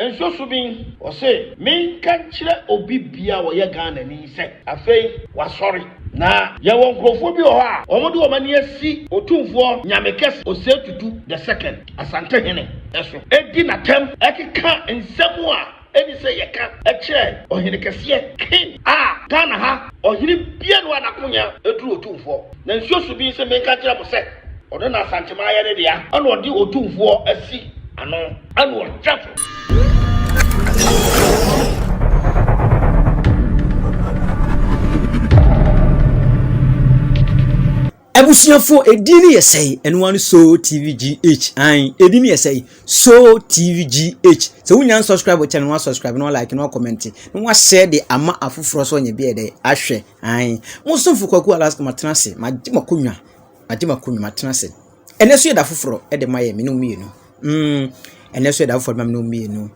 Nso so bi ɔse menka nkyerɛ obi bia a ɔyɛ Ghana ni sɛ afei wasɔre na yɛwɔ nkurɔfoɔ bi wɔ hɔ a wɔn de wɔn ani asi Otumfoɔ Nyame Kɛse Osei Tutu the second Asantehene so di natam keka nsɛm a ɛni sɛ yɛka kyerɛ Ɔhenekɛseɛ King a Ghana ha Ɔhene bianu a nakonya duru Otumfoɔ na nsuo so bi se menka nkyerɛ mo sɛ ɔno na Asanteman yɛ ne dea ɛna ɔde Otumfoɔ asi ano. ɛna ɔda so. abusuafo edin no yɛ sɛe ɛno ano so tv gh an edin no yɛ sɛe so tv gh sɛ wonya subscribe kyɛ no wasubscribe na walike na comment. na wahyɛ de ama afoforɔ so ɔnyɛ biɛ dɛ ahwɛ an mo somfo kwaku alaska matena ase magye makonnwa magye makonnwa matena ase Ɛnnɛ nso yɛ da foforɔ de ma yɛn, me ne wo mmienu. Mm, ɛnnɛ nso yɛ da foforɔ de ma me ne wo mmienu.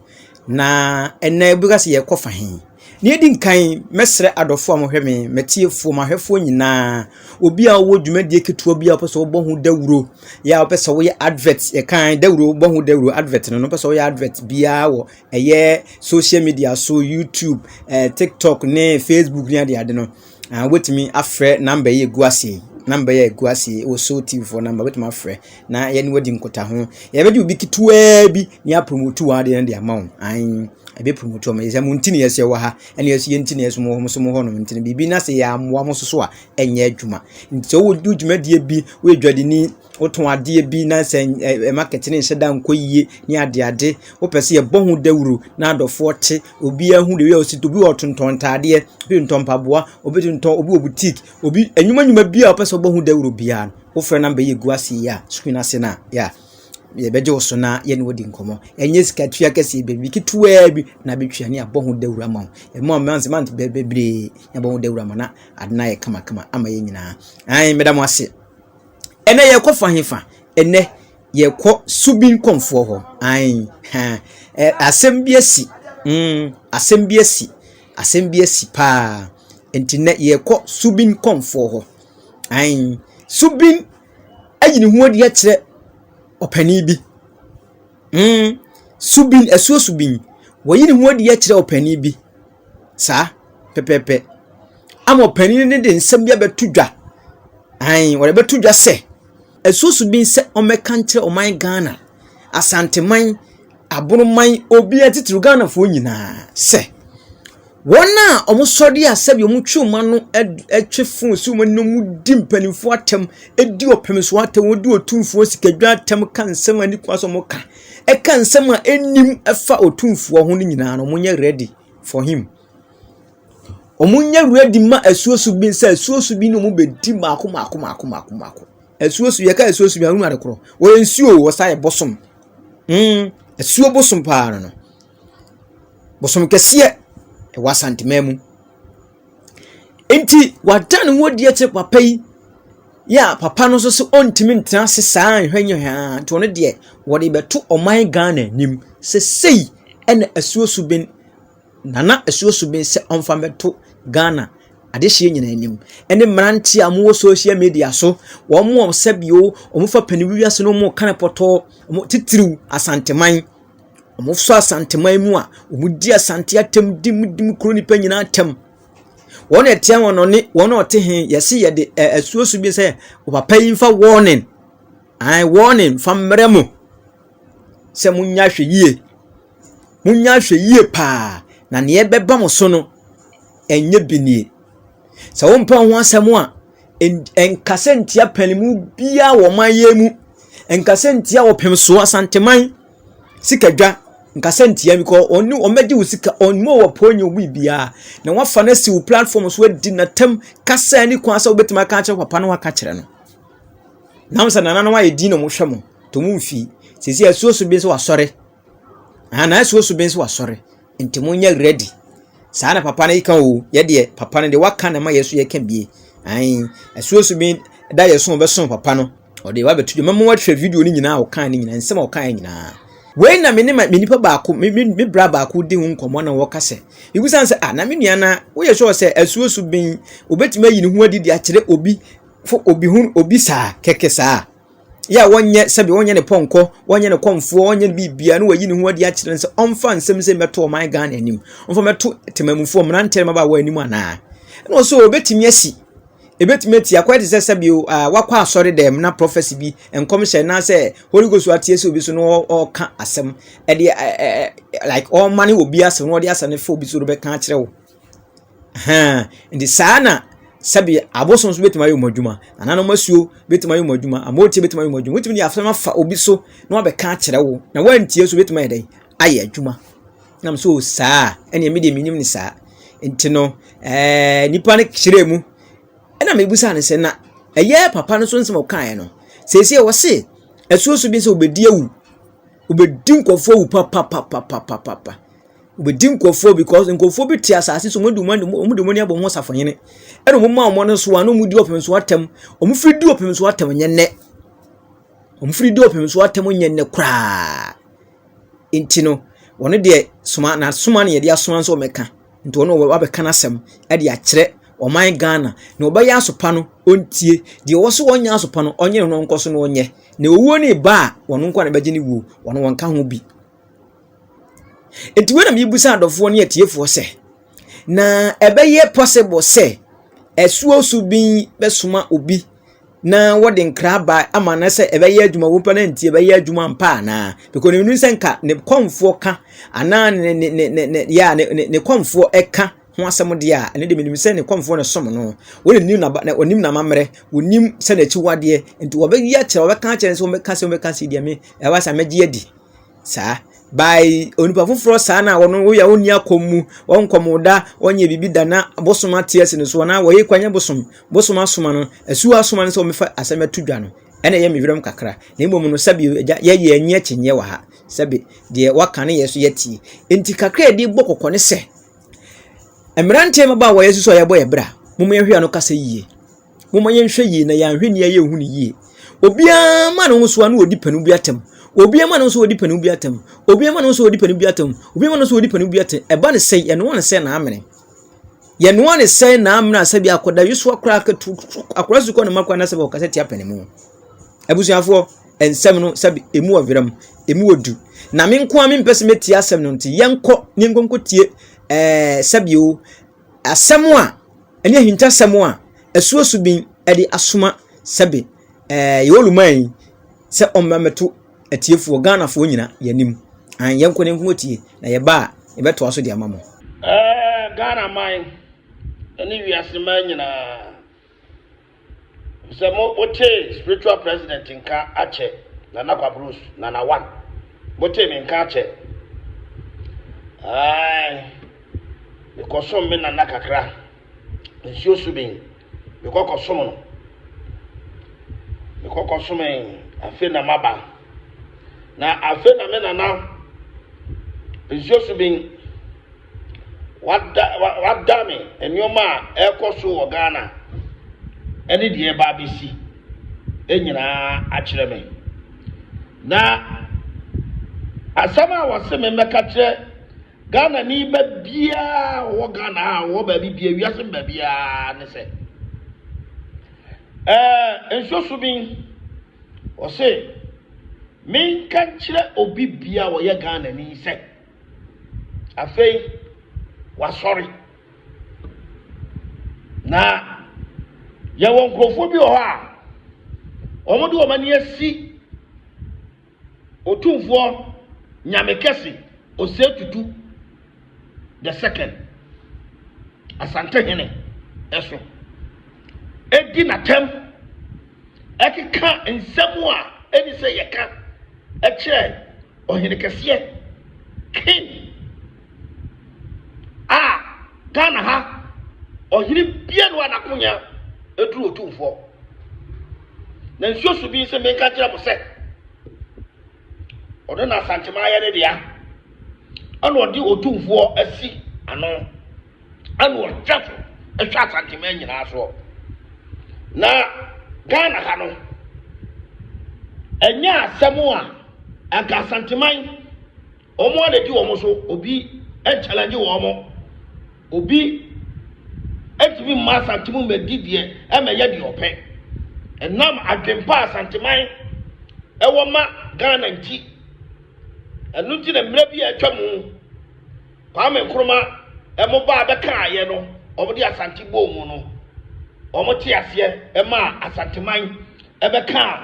Na ɛnnɛ wobɛka sɛ yɛrekɔ fa he? Nea ɛdi nkan, mɛsrɛ adɔfoɔ a mohwɛ me, m'atiefoɔ, m'ahwɛfoɔ nyinaa, obi a wowɔ dwumadie ketewa bi a wopɛ sɛ wobɔ ho dawuro, yɛ a wopɛ sɛ woyɛ advert, yɛkan dawuro, wobɔ ho dawuro, advert no, no wopɛ sɛ woyɛ advert biara wɔ ɛyɛ social media so, YouTube, eh, TikTok ne Facebook ne adeade no. Ɛɛ wobɛtumi afrɛ namba yi a ɛgu ase yi. Namba yi a ɛgu ase yi wɔ Soul TV foɔ namba wobɛtumi afrɛ na yɛne wadi nkutaho. Yɛbɛgye obi ketewaa bi na yɛapromote w'adeɛ no de ama wo. Ae, ɛbɛpromote wɔn. Yɛsɛ mo nti na yɛsɛ wɔ ha ɛne yɛsɛ yɛn nti na yɛsɛ mo nso mo hɔ nom nti no biribi na sɛ yɛammoa mo nso so a ɛnyɛ adwuma. Nti sɛ wowɔ dwumadie bi, woyɛ dwadini, wotɔn adeɛ bi na sɛ ɛ market no nhyɛ da nkɔ yie ne adeade wopɛ sɛ yɛbɔ ho dawuro na adɔfoɔ te obiara hu deɛ ɔsi obi wɔ tontɔn ntaadeɛ obi ntɔn mpaboa obi tontɔn obi wɔ boutique obi enyuma nyuma bi a wopɛ sɛ ɔbɔ ho dawuro biara wofrɛ namba yi egu ase yi a screen ase na yɛ yɛbɛgye wo so na yɛne wodi nkɔmmɔ ɛnyɛ sika tua kɛseɛ baabi ketewaa bi na bɛtwa ne abɔ ho dawuro ama wo ɛmu a mante mante bebree na bɔ ho dawuro ama na ade no ayɛ kamakama ama yɛ nyinaa ae meda mo ase Ɛnnɛ yɛrekɔfa hefa? Ɛnnɛ yɛrekɔ Subin Kɔmfoɔ hɔ. Ae, ha, ɛ, asɛm bi asi. Mm, asɛm bi asi. Asɛm bi asi paa. Nti nnɛ yɛrekɔ Subin Kɔmfoɔ hɔ. Ae, Subin ayi ne ho adi akyerɛ ɔpanin bi. Hmm, Subin, asuo Subin. Wayi ne ho adi akyerɛ ɔpanin bi. Saa, pɛpɛɛpɛ. Ama ɔpanin no de nsɛm bi abɛto dwa. Ae, wɔde bɛto dwa sɛ, asuo Subin sɛ ɔmmɛka nkyerɛ ɔman Ghana, Asanteman, Aboroman, obiara titiriw Ghanafoɔ nyinaa sɛ, Wɔn a wɔsɔre yɛ asɛm yɛ wɔn twe wɔn ano twe fo si wɔn anim di mpanimfoɔ atɛm di ɔpemsoɔ atɛm wɔdi otumfoɔ sikadwa atɛm ka nsɛm a nikwa so wɔka ɛka nsɛm a ɛnim ɛfa otumfoɔ ho no nyinaa no wɔnyɛ ready for him wɔnyɛ ready ma asuo so bi sɛ asuo so bi na wɔn bɛdi mako mako mako mako mako asuo so yɛka asuo so bi ahunu ade korɔ wɔyɛ nsuo wɔsa yɛ bosom mm asuo bosom paa no no Bosoom kɛseɛ ɛwɔ Asante man mu. Nti w'ada ne ho adi akyerɛ papa yi yɛ a papa no nso ɔntumi ntena ase saa nhwɛ nyɛ hwɛ aa nti ɔno deɛ ɔde bɛto ɔman Ghana anim. Sɛsɛyi ɛna asuo suben Nana asuo suben sɛ ɔmfa mɛto Ghana adehyeɛ nyinaa anim. Ɛne mmeranteɛ a wɔwɔ social media so, wɔn a sɛbi o wɔfa paniwie ase na wɔka no pɔtɔɔ, titiriw Asante man. Wɔsɔ Asanteman mu a, wɔdi Asante atɛm dim dim kuro nnipa nyinaa atɛm. Wɔn a ɛteɛ wɔn no ne wɔn a wɔte he, yɛse yɛde ɛ asuo so bi sɛ, ɔpapa yi mfa warning, ae warning mfa mmrɛ mo sɛ monyɛ ahwɛyie. Monyɛ ahwɛyie pa ara, na deɛ ɛbɛba mo so no, ɛnyɛ bi nie. Sɛ wompɛ wo ho asɛm a. nkasa ntia panimu biara wɔ ɔman yi mu. Nkasa ntia ɔpem so Asanteman sika dwa. Nkasa ntia no kɔ ɔne wɔn bɛgye wo sika ɔne wɔ pɔn nyɛ obi biara. Na wafa no asi wo platform so adi n'atam kasa ne kwan sɛ wobɛtumi aka akyerɛ papa no aka kyerɛ no. Nam sɛ nana no ayɛ din na wɔhwɛ mo to mo mfii. Sisi asuo so bi nso wasɔre. Ana asuo so bi nso wasɔre. Nti mo nyɛ ready. Saa na papa no yi kan o. Yɛ deɛ papa no deɛ waka na ma yɛ so yɛ ka bie. Ayin, ɛsuosu bi da yɛ so ɔbɛso papa no. Ɔde wa bɛtu dwa. Mɛmo wɔhwɛ video no nyinaa ɔkan no nyinaa. Nsɛm ɔkan nyinaa. Wei na me ne me nipa baako me me me bra baako di ho nkɔmɔ na wɔka sɛ ebusa sɛ ah na me nua na woyɛ sure sɛ asuosu ben obetumi ayi ne ho adi de akyerɛ obi fo obi ho obi saa kɛkɛ saa yɛ a wɔnyɛ sɛbi wɔnyɛ ne pɔnkɔ wɔnyɛ ne kɔnfoɔ wɔnyɛ ne biribiara na wɔyi ne ho adi akyerɛ no sɛ ɔmfa nsɛm sɛ mɛto ɔman ghana anim ɔmfa mɛto temamufoɔ mmeranteɛ no mabaawa anim anaa ɛna ɔsɛ ɔbɛtumi asi ɛbɛtumi ati akɔyɛ te sɛ sɛbi wakɔ asɔre dɛm na prɔfɛsi bi nkɔmhyɛ anaasɛ holy ghost ateɛ sɛ obi so na ɔka asɛm ɛde like ɔma ne obi asɛm na ɔde asɛm no fa obi so no bɛka akyerɛ wo Ahaa, enti saa na sɛdeɛ abosom nso bɛtumi ayɛ wɔn adwuma, nananom asuo bɛtumi ayɛ wɔn adwuma, amotie bɛtumi ayɛ wɔn adwuma. Wotumi de asɛm afa obi so na wabɛka akyerɛ wo na woantie nso bɛtumi ayɛ dɛn ayɛ adwuma. Nam so saa ɛnna me deɛ menim ne saa. Nti no ɛɛ nipa no kyerɛ mu ɛnna mebusa no sɛ na ɛyɛ papa no so nsɛm ɔkaeɛ no sɛsɛ wɔse asuo so bi sɛ obɛdi awu obɛdi nkɔfoɔ awu papapapapapapa. Wɔbɛdi nkurɔfoɔ because nkurɔfoɔ bi te asase so wɔn de wɔn wɔn de wɔn ani abɔ wɔn ho safohene ɛna wɔn ma wɔn no so a na wɔn di ɔpem so atɛm wɔn firi di ɔpem so atɛm nyɛ nnɛ wɔn firi di ɔpem so atɛm nyɛ nnɛ koraa nti no wɔn deɛ soma na soma na yɛde asoma nso wɔn ɛka nti wɔn wɔ abɛka n'asɛm ɛde akyerɛ ɔman ghana na ɔbɛyɛ asopa no ɔntie deɛ ɔwɔ so ɔnyɛ asopa no ɔnyɛ no nkɔ so na ɔnyɛ na owuo ne ba a wɔn nkɔ na bɛgye ne wuo wɔn wɔn ka ho bi. Enti wei na mebisa adɔfoɔ ne atiefoɔ sɛ, na ɛbɛyɛ possible sɛ asuo so bi bɛsoma obi na wɔde nkra aba ama no sɛ ɛbɛyɛ adwuma wopɛ no nti ɛbɛyɛ adwuma ampa anaa? Because na menim sɛ nka ne kɔmfoɔ ka anaa ne ne ne ne ne yɛ a ne ne ne kɔmfoɔ ɛka ho asɛm deɛ a ɛno deɛ menim sɛ ne kɔmfoɔ na ɛsom no wɔn na nim n'aba na wɔnim n'amammerɛ wɔnim sɛ n'akyiwadeɛ nti wɔbɛyi akyerɛ wɔbɛka akyerɛ no sɛ wɔbɛka sɛ wɔbɛka sɛ deɛ me ɛwɔ sɛ mɛgye adi Saa. By onipa foforɔ saa na wɔn woyɛ a wɔnni akɔm mu wɔn nkɔm da wɔnyɛ biribi da na bosom ate asi no so anaa wɔyɛ kwan nyɛ bosom bosom asoma no asuo asoma no sɛ wɔmɛfa asɛm ato dwa no ɛna ɛyɛ me werɛm kakra na mmom no sɛbi agya yɛyɛ anyi akyinyɛ wɔ ha sɛbi deɛ waka ne yɛ so yɛtie nti kakra yɛde bɔ kɔkɔ ne sɛ mmeranteɛ mmabaa wɔyɛ susu a yɛbɔ yɛ bra mo yɛhwɛ ano kasa yie Momma yɛnhwɛ yie na yɛn ahwenneɛ yɛ ɛho no yie. Obiara ma ne ho so a na ɔdi panin bi atɛm. Obiara ma ne ho so ɔdi panin bi atɛm. Obiara ma ne ho so ɔdi panin bi atɛm. Obiara ma ne ho so ɔdi panin bi atɛm. Ɛba ne sɛ yɛnoa ne sɛ n'amene. Yɛnoa ne sɛ n'amene a sɛbi akɔda yesoa koraa akatu akora sukuu ne mma koraa na sɛbi ɔkasa tia panin mu. Abusuafoɔ nsɛm no sɛbi emu wɔ veram emu wɔ du. Na me nko a me mpɛ sɛ metie asɛm no nti yɛnkɔ ne nkonko tie ɛɛ sɛbi o Asɛm a ɛne ahintasɛm a asuasu bin de asoma sɛbe ɛɛ yɛ oluman yi sɛ ɔmmra mmɛto atiefoɔ Ghanafoɔ nyina yɛ anim. An yɛnkɔ na yɛnko atie na yɛba a yɛbɛtoa so de ama mo. Ɛɛ Ghana man ne wiase man nyinaa. Sɛ mo wotee spiritual president nka akyɛ Nana Kwabros, Nana One. Motee me nka akyɛ. Ae. Mekɔsom me Nana kakra. Nsuo so bin. Mekɔ kɔsom no. Mekɔ kɔsom afe na maba. Na afe na me Nana nsuo so bin. wada wadane nneɛma a ɛrekɔ so wɔ ghana ɛne deɛ ɛba abɛsi nyinaa akyerɛ me na asɛm a wɔse me mmɛka kyerɛ ghana ni ba biara wɔ ghana a wɔ baabi bia wiase mba biara ne sɛ ɛɛ nsuo so bi wɔse menka nkyerɛ obi bia wɔyɛ ghana ni sɛ Afei, wasɔre. Na yɛwɔ nkurɔfoɔ bi wɔ hɔ a wɔde wɔn ani asi otumfoɔ nyame kɛse ɔsɛ tutu the second asante hene ɛso ɛdi n'atɛm ɛkeka nsɛm a ɛni sɛ yɛka ɛkyerɛ Ɔhene kɛseɛ king a Ghana ha ɔhene bia no a n'akonya ɛduru otumfoɔ na nsuo so bi nsɛ menka nkyerɛ mo sɛ ɔno na asantema ayɛ ne dea ɛna ɔde otumfoɔ asi ano ɛna ɔhwɛ so hwɛ asanteman nyinaa soɔ na ghana ha no ɛnyɛ asɛm a anka asanteman wɔn a nadi wɔn so obi nkyɛlɛngye wɔn obi ntumi mma asante mu mmɛdi deɛ ɛmɛyɛ deɛ ɔpɛ ɛnam adwempa asanteman ɛwɔ ma ghana nti ɛno nti na mmerɛ bi a atwa mu Kwame Nkrumah ɔmo baa bɛkaayɛ no ɔmo de Asante bɔɔ mu no ɔmo te aseɛ ɛmaa Asanteman ɛbɛkaa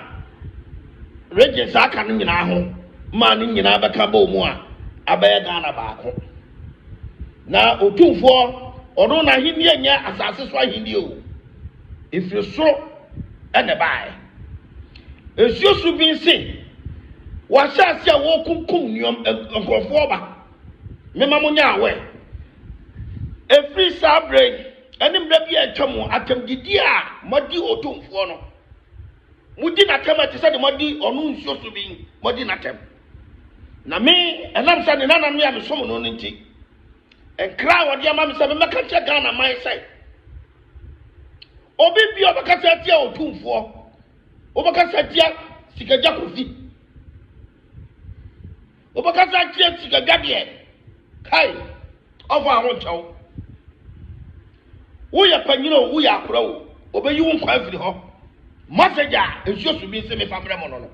Regions a aka no nyinaa ho maa no nyinaa bɛka bɔɔ mu a abɛyɛ Ghana baako. Na Otumfoɔ ɔno n'ahennie nyɛ asase so ahennie o, ɛfiri soro ɛna ɛbaeɛ. Nsuo so bi nse wɔahyɛ aseɛ a wɔrekunkum nneɛma nkurɔfoɔ ba. Mema mo nyɛ aware. Ɛfiri saa berɛ yi ɛne mmerɛ bi a atwa mu, atɛmdidie a moadi Otumfoɔ no, modi n'atɛm a ɛte sɛ deɛ moadi ɔno nsuo so bi, moadi n'atɛm. Na me, ɛnam sɛ ne nana me a mesom no no nti, nkra a wɔde ama me sɛ memmɛka nkyerɛ Ghana man sɛ, obi bi a ɔbɛkasa atia Otumfoɔ, wobɛkasa atia Sikagya Kofi, wobɛkasa akyerɛ sikadwadeɛ kai ɔfa aho nkyɛw woyɛ panyina o woyɛ akora o ɔbɛyi wo nkwa afiri hɔ message a nsuo so bi nse mefa mmerɛ mo no no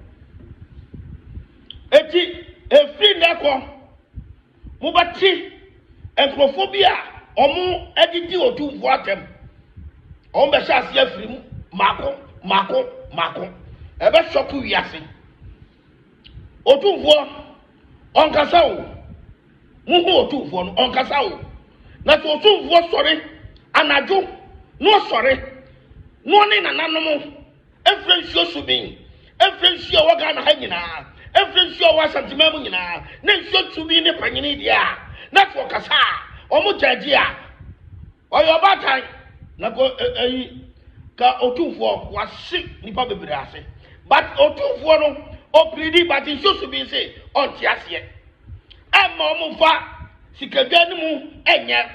ɛti ɛfiri nnɛ kɔ mobɛte nkurɔfoɔ bi a ɔmo adidi ɔtumfoɔ atɛm ɔmo bɛhyɛ aseɛ afiri mu mako mako mako ɛbɛsɔko wiase Otumfoɔ, ɔnkasa o! Monhu Otumfoɔ no, ɔnkasa o! Na sɛ Otumfoɔ sɔre anadwo, na ɔsɔre, na ɔne nananom mfrɛ nsuo so min, mfrɛ nsuo a ɛwɔ Ghana ha nyinaa, mfrɛ nsuo a ɛwɔ Asanteman mu nyinaa, na nsuo tumi ne panyini deɛ a, na sɛ ɔkasa a, wɔn gya gye a. Ɔyɛ ɔbaatan, na kɔ ɛ ɛyi ka otumfoɔ wase nipa bebree ase but otumfoɔ no ɔpiridi but nsusu bi se ɔnte aseɛ ɛmma ɔmo nfa sikadwa no mu ɛnyɛ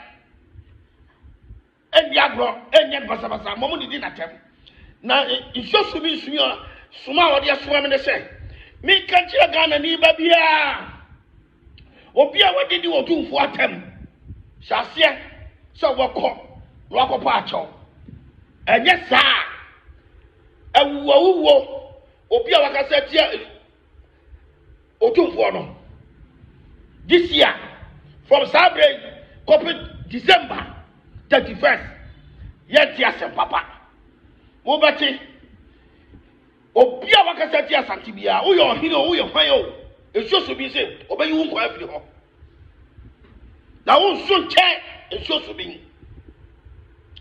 ɛndi agorɔ ɛnyɛ basabasa ma ɔmo didi n'atɛm na nsusu bi nsumi a soma a ɔde asoma me ne sɛ menka nkyerɛ Ghana ni ba biara Obi a wagye di Otumfoɔ atam, hyɛ aseɛ sɛ wɔkɔ na wakɔpa akyɛw. Ɛnyɛ saa a, awuwawuwo obi a wakasa tia Otumfoɔ no. This year, from saa berɛ yi kɔpe December 31st, yɛnte asɛm papa. Mobɛte. Obi a wakasa atia Asante biara, woyɛ ɔhene o, woyɛ hwan o, nsuo so bi se ɔbɛyi wo nkwa afiri hɔ. Na wo nso nkyɛn nsuo so bi.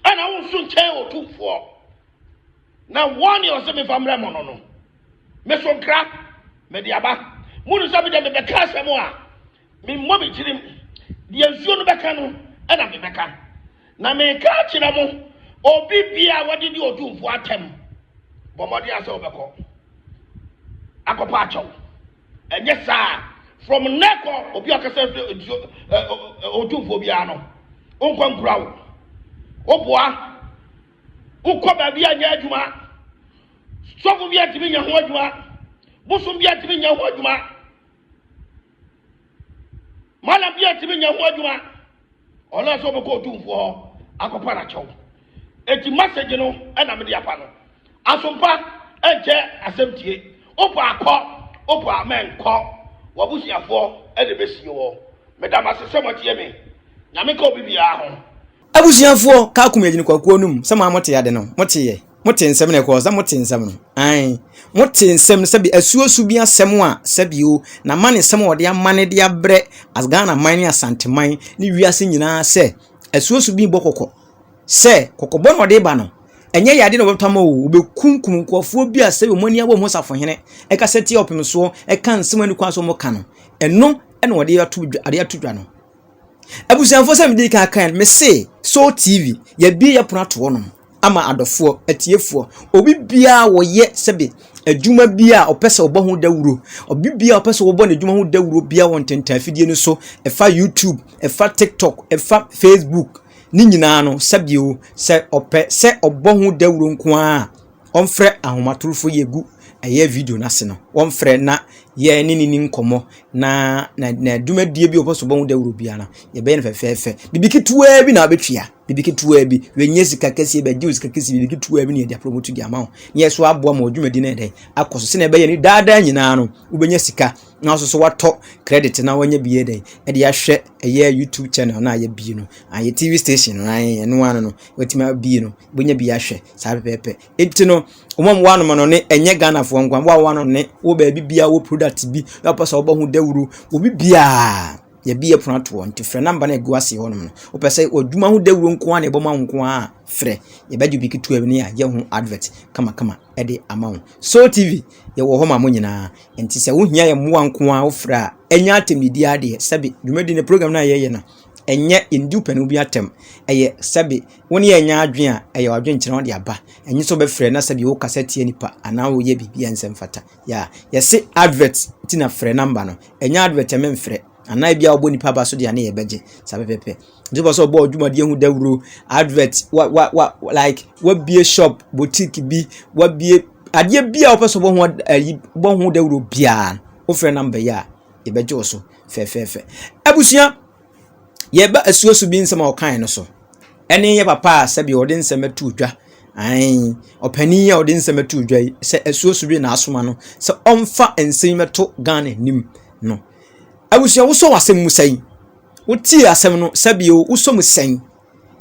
Ɛna wo nso nkyɛn otumfoɔ. Na wɔn ne ɔsɛ mefa mmerɛ mo no no. Meso nkra, mede aba. Munu sɛ mede mebɛka asɛm a. Memmɔ me tirim, deɛ nsuo no bɛka no na mebɛka. Na meka akyerɛ mo, obi bia a wɔde di odwumfoɔ atɛm, bɔ mmɔden a sɛ wobɛkɔ akɔpa akyɛw. Ɛnyɛ saa from nnɛ kɔ obi a ɔkasa firi nsuo ɛ ɛ odwumfoɔ biara no, wonkɔ nkura wo. Woboa, wokɔ baabi a nyɛ adwuma, sɔfo bi a ntumi nyɛ ho adwuma, bosom bi a ntumi nyɛ ho adwuma. mana bi atumi nya ho adwuma ɔnaasɛ ɔbɛkɔ ɔtumfoɔ hɔ akɔpa no akyɛw ɛti masage no ɛna mede apa no asompa ɛnkyɛ asɛm tie wopɛ akɔ wopɛ a mɛnkɔ wabusuafoɔ ɛde bɛsie wɔ meda mase sɛ moatie me nyame ka obi biara ho Abusuafoɔ kaa kum yɛ gyina kwakuo no mu sɛ mo a mote ade no mote yɛ mote nsɛm na ɛkɔɔ sɛ mote nsɛm no ae mote nsɛm no sɛbi asuosu bi asɛm a sɛbio na ma ne nsɛm a wɔde ama ne de abrɛ as Ghana man ne Asanteman ne wiase nyinaa sɛ asuosu bi bɔ kɔkɔ sɛ kɔkɔbɔ na ɔde ba no ɛnyɛ yade na wɔbɛtɔ ama o wɔbɛkunkum nkurɔfoɔ bi a sɛbi wɔn ani abɔ ho safohene ɛka sɛ tie ɔpem soɔ ɛka nsɛm ani kwan so wɔka no ɛno ɛna wɔde ato dwa no Abusuafoɔ sɛ mede kan kan me se Soul TV yɛbie yɛ pono ato hɔnom ama adɔfoɔ atiefoɔ obi biara wɔyɛ sɛbi adwuma bi a ɔpɛ sɛ ɔbɔ ho dawuro obi biara ɔpɛ sɛ ɔbɔ n'adwuma ho dawuro biara wɔ ntentan afidie no so ɛfa YouTube ɛfa TikTok ɛfa Facebook ne nyinaa no sɛbi o sɛ ɔpɛ sɛ ɔbɔ ho dawuro nko ara Wɔmfrɛ ahomatorofo yi gu ɛyɛ video no ase no, wɔmfrɛ na yɛne no ni nkɔmmɔ na na na dwumadie bi a wɔpɛ so wɔn dawuro biara no, yɛbɛyɛ no fɛfɛɛfɛ. Biribi ketewaa bi na wabɛtua, biribi ketewaa bi, wɔnyɛ sika kɛseɛ bɛgye wo sika kɛseɛ, biribi ketewaa bi na yɛde aprɔmoto de ama wo, na yɛso aboa ma wo dwumadie no ayɛ dɛn akɔ so sɛdeɛ ɛbɛyɛ no daa daa nyinaa no wobɛnya sika na ɔsoso watɔ credit na wanya bi yɛ dɛ ɛde ahwɛ ɛyɛ youtube channel na ayɛ bi no ayɛ tv station no ayɛ ɛno ano no watumi abie no wanya bi ahwɛ saa pɛpɛɛpɛ eti no wɔn a wɔn ano no ne ɛnyɛ ghana foɔ nkwa wɔn a wɔn ano ne wɔ baabi bia wɔ product bi na wɔpɛ sɛ wɔbɔ ho dawuro obi biara yɛbi yɛ pono atoɔ nti frɛ namba na egu ase hɔ nom no wɔpɛ sɛ wɔdwuma ho dawuro nko ara na ɛbɔ ma nko ara frɛ yɛbɛgye bi ketewa bi ne yɛ ho advert kamakama ɛde ama wɔn so tv. Yɛwɔ hɔ ma mo nyinaa. Nti sɛ wohia yɛn mmoa nko ara wofrɛ a, ɛnyɛ atɛmdidi ara deɛ. Sɛbe dwumadi no program no a yɛyɛ no, ɛnyɛ yɛndi wopɛne obi atɛm. Ɛyɛ sɛbe wo ne yɛn nyɛ adwene a, ɛyɛ w'adwenkyerɛ na wode aba. Ɛnyɛ sɛ wobɛfrɛ na sɛbe wokasa tia nipa anaa woyɛ biribi a ɛnsɛ mfata. Yeah, yɛse advert nti na frɛ number no. Ɛnyɛ advert a memfrɛ. Anaa ebi a wɔbɔ nipa aba so deɛ ne yɛ bɛgye saa pɛpɛpɛ. Nti wopɛ sɛ ɔbɔ dwumadie ho dawuro, advert, wa wa wa like wabie shop, boutique bi, wabie adeɛ bi a wopɛ sɛ ɔbɔ ho ayi bɔ ho dawuro biara no, wofrɛ namba yi a yɛbɛgye wo so fɛfɛɛfɛ. Abusua, yɛba asuasu bi nsɛm a ɔkae no so. Ɛne yɛ papa a sɛbi ɔde nsɛm ato dwa. Ae, ɔpanin a ɔde nsɛm ato dwa yi, sɛ asuasu bi na asoma no, sɛ ɔmfa nsɛm yi mɛto Ghana anim no. Abusua, wosɔ w'asɛm mu sɛn? Wotie asɛm no sɛbio o, wosɔ mu sɛn?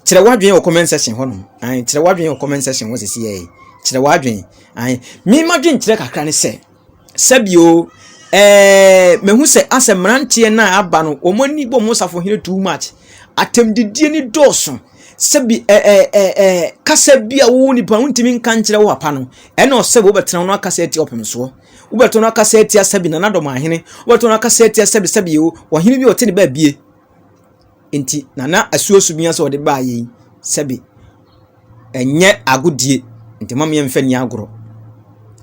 Kyerɛ w'adwene wɔ comment section hɔ nom. Ae, kyerɛ w'adwene wɔ comment section hɔ sisi yɛ. Kyerɛ w'adwene. Ae, me ma dwen kyerɛ kakra ne sɛ, sɛbio o, eh, mehu sɛ asɛ mmeranteɛ no a aba no, wɔn ani bɔ wɔn safo hene too much. Atɛmdidie ne dɔɔso. Sɛbi, eh, eh, eh, eh, kasa bi a wo nipa wontumi nka nkyerɛ wo papa no, ɛna ɔsɛ wɔbɛtena no akasa ati ɔpemsoɔ. wobɛto no akasa atia sɛbi na nadɔm ahene wobɛto no akasa atia sɛbi sɛbi o ɔhene bi ɔte ne baabie nti nana asuasu bi asɛ ɔde baa yɛn sɛbi ɛnyɛ agodie nti ma meɛmfa ni agorɔ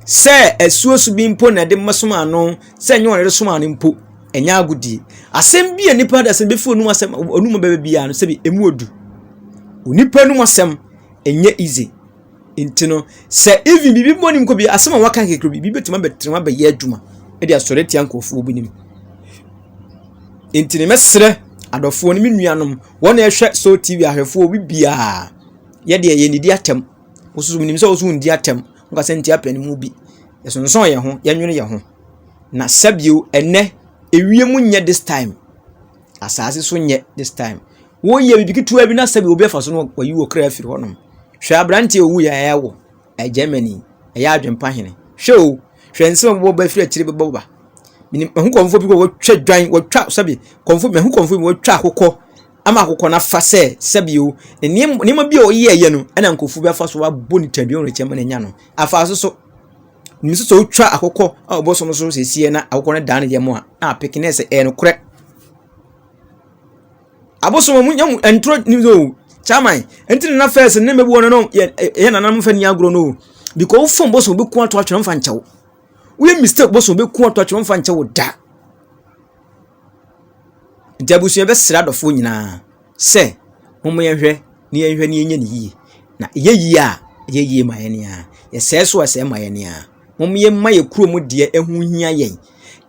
sɛ asuasu bi mpo na ɛde mɛsom ano sɛ ɛnyɛ ɔne de som ano mpo ɛnyɛ agodie asɛm bi a nipa de asɛm bɛfi onum asɛm onum bɛbɛ biara no sɛbi ɛmu odu onipa num asɛm ɛnyɛ easy nti no sɛ even biribi mmɔ nim kɔ bi asɛm a waka kekere bi biribi bɛtumi abɛtena abɛyɛ adwuma de asɔre tia nkurɔfoɔ bi nim nti no mɛsrɛ adɔfoɔ no me nuanom wɔn a ɛhwɛ so tv ahwɛfoɔ bi biara yɛdeɛ yɛnidi atɛm wososo menim sɛ woso ndi atɛm woka sɛ ntia pɛ no mu bi yɛsonsɔn yɛn ho yɛnwene yɛn ho na sɛbio ɛnɛ ewiem nyɛ this time asase so nyɛ this time Woreyɛ biribi ketewa bi na sɛbi obi afa so no wayi wɔ kra afiri hɔnom. Hwɛ aberante a owui a ɛyɛ wɔ Germany, ɛyɛ adwempa hene. Hwɛ o, hwɛ nsɛm a wɔbɛbɔ ba afiri akyire bɛbɔ ba. Menim mahu kɔmfo bi kɔ wɔtwa dwan, wɔtwa sɛbi, kɔmfo mahu kɔmfo bi wɔtwa akokɔ ama akokɔ no afa sɛ sɛbi o, ne nneɛma bi a ɔyɛɛyɛ no ɛna nkɔfo bi afa so wabɔ ne tadua wɔn akyɛ ma n'anya no. Afa so so, nim sɛ sɛ wotwa akokɔ a wɔbɔ so no so sɛsiɛ na akokɔ no daa ne yam a, na apeke ne sɛ ɛyɛ nokorɛ. Abosoom ɔmo nya mu nturo no bi o kyaman nti na fɛs ne mɛboɔ no yɛ yɛ nananom fɛ ni agorɔ no o bikɔ wo fom bosom bi ko ato atwerɛ mfa nkyɛw woyɛ mistake bosom bi ko ato atwerɛ mfa nkyɛw da nti abusua bɛsrɛ adɔfoɔ nyinaa sɛ momo yɛn hwɛ ne yɛn hwɛ ne yɛn nyɛ ne yie na ɛyɛ yie a ɛyɛ yie ma yɛn ni a yɛsɛɛ so a ɛsɛɛ ma yɛn ni a momo yɛn ma yɛ kuro mu deɛ ɛho hia yɛn.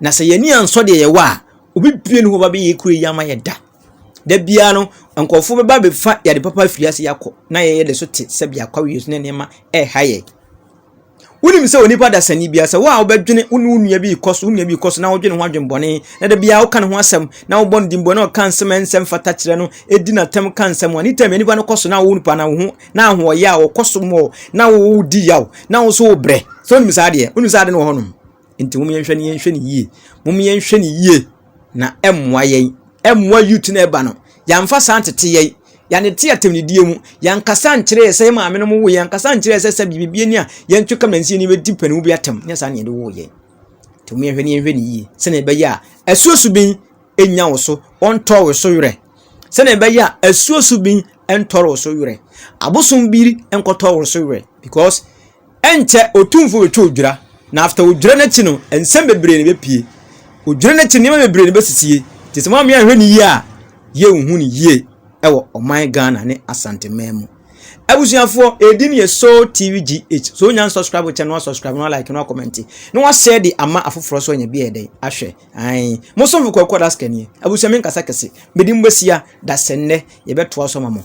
Na sɛ yɛn ani ansɔ deɛ yɛwɔ a, obi bue ne hɔ ba bɛyɛ kuro yi ama yɛ da. Da biara no, nkurɔfoɔ bɛba bɛfa yɛ ade papa afiri ase akɔ na yɛyɛ de so te sɛ biako awie so ne nneɛma ɛreha yɛ. Wonim sɛ onipa dasani biara sɛ wo a wobɛdwene wo ne wo nua bi rekɔ so wo nua bi rekɔ so na wodwene ho adwenbɔne na da biara woka ne ho asɛm na wobɔ no dimbɔ na ɔka nsɛm a ɛnsɛm fata kyerɛ no ɛdi n'atɛm ka nsɛm a ne tam nipa no kɔ so na wo nipa na wo ho na ahoɔyɛ a wɔkɔ so mmɔ na wodi yaw na wo so wobrɛ sɛ wonim saa adeɛ wonim saa adeɛ no wɔ hɔnom Nti mom yɛnhwɛ no yɛnhwɛ no yie. Mom yɛnhwɛ no yie na ɛmmoa yɛn. Ɛmmoa youth na ɛba no. Yɛamfa saa ntete yɛn. Yɛanete atɛmdidie mu. Yɛankasa nkyerɛ yɛ sɛ yɛ maame no mo wo yɛn. Yɛankasa nkyerɛ yɛ sɛ sɛ biribi ni a yɛntwe kam na nsi yɛn bɛdi panin bi atɛm. Nyɛ saa na yɛde woo yɛn. Nti mom yɛnhwɛ no yɛnhwɛ no yie sɛnea ɛbɛyɛ a asuo so bin nya wo so ɔntɔ wo so werɛ. Sɛnea ɛbɛyɛ a asuo so bin ntɔre wo so werɛ. Abosom biri nkɔtɔ wo so werɛ because Ɛnkyɛ Otumfo betwa odwira, na after odwira no akyi no, nsɛm bebree na ebepue. Odwira no akyi no, nneɛma bebree na ebesisi. Enti sɛ moammea anhwɛ no yie a, yenhu no yie wɔ ɔman Ghana ne Asanteman mu. Abusuafoɔ, edin yɛ Soul TV GH. Sɛ onya nsubscribe kyɛ no a, subscribe na walike na wakɔmɛnte na washare de ama afoforɔ nso anya bi ayɛ dɛn ahwɛ. Ae. Mo somfo Kwaku Adaska nie. Abusua menkasa kɛse. Me din Boasia Dasɛnnɛ yɛbɛtoa so ama mo.